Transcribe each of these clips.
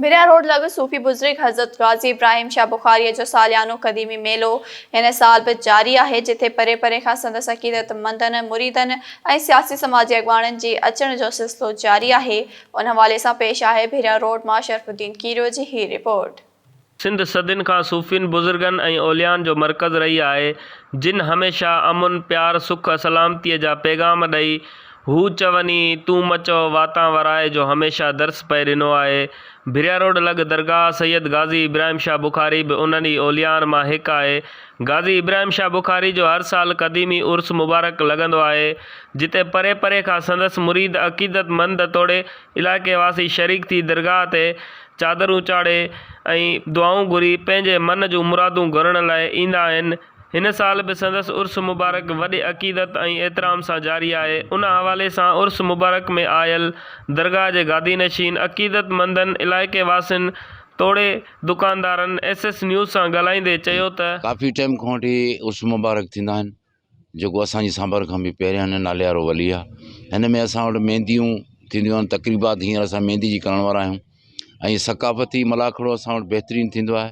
ڀريا road لڳ صوفي بزرگ حضرت غازي ابراهيم شاهه بخاريء جو ساليانو قديمي ميلو هن سال به جاري آهي، جتي پري پري کان سندس عقيدت مندن، مريدن ۽ سياسي سماجي اڳواڻن جي اچڻ جو سلسلو جاري آهي. ان حوالي سان پيش آهي ڀريا روڊ مان شرف الدين کيريو جي هي رپورٽ. سنڌ صدين کان صوفين، بزرگن ۽ اوليائن جو مرڪز رهي آهي، جن هميشه امن، پيار، سک، سلامتيء جا پيغام ڏئي، هو چوني، تون مچو واتان ورائي جو هميشه درس پئي ڏنو آهي. ڀريا روڊ لڳ درگاهه سيد غازي ابراهيم شاهه بخاري به انهن ئي اوليائن مان هڪ آهي. غازي ابراهيم شاهه بخاري جو هر سال قديمي عرس مبارڪ لڳندو آهي، جتي پري پري کان سندس مريد عقيدتمند توڙي علائقي واسي شريڪ ٿي درگاهه تي چادرون چاڙهي ۽ دعائون گهري پنهنجي من جون مرادون گهرڻ لاء ايندا آهن. هن سال به سندس عرس مبارڪ وڏي عقيدت ۽ احترام سان جاري آهي، ان حوالي سان عرس مبارڪ ۾ آيل درگاهه جي گادي نشين، عقيدت مندن، علائقي واسين توڙي دڪاندارن ايس ايس نيوز سان ڳالهائيندي چيو ته. ڪافي ٽيم کان وٺي عرس مبارڪ ٿيندا آهن جيڪو اسان جي سانڀر کان به پهريان ناليارو ولي آهي، هن ۾ اسان وٽ مينديون ٿينديون آهن، تقريبات هينئر اسان ميندي جي ڪرڻ وارا آهيون ۽ ثقافتي ملاکڙو اسان وٽ بهترين ٿيندو آهي،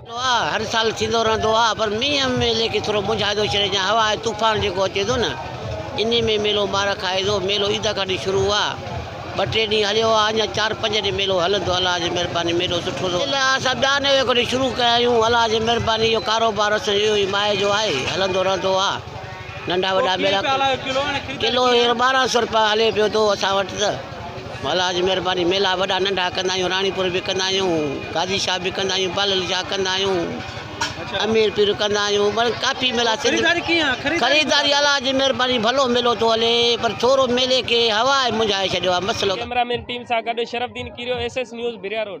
ٿيندو آ هر سال ٿيندو رهندو آ پر مينهن ميلي کي ٿورو مونجهائيندو ڇڏي جا هوا ۽ طوفان جيڪو اچي ٿو نه انهي ۾ ميلو مار کائي ٿو ميلو عيد کان ڏي شروع آ ٻه ٽي ڏينهن هليو آ اڃا چار پنج ڏينهن ميلو هلندو الله جي مهرباني ميلو سٺو ٿو هلي اسان ٻيا نوي کان ڏي شروع ڪيا آهيون الله جي مهرباني اهو ڪاروبار اسان جو اهو ئي ماهي جو آهي هلندو رهندو آ ننڍا وڏا ميلا ڪلو هينئر ٻارهن سئو روپيا هلي پيو ٿو اسان وٽ ته. مولا جي مھرباني ميلا وڏا ننڍا ڪندا آھيون راڻيپور به ڪندا آھيون گادي شاھ به ڪندا آھيون پالل شاھ ڪندا آھيون امير پير ڪندا آھيون مطلب ڪافي ميلا سنڌ خريداري الله جي مھرباني ڀلو ميلو ٿو ھلي پر ٿورو ميلي کي ھوا منجھائي ڇڏيو آھي مسئلو ڪيمرا مين ٽيم سان گڏ Sharaf Uddin Kerio S S news Bhiria road.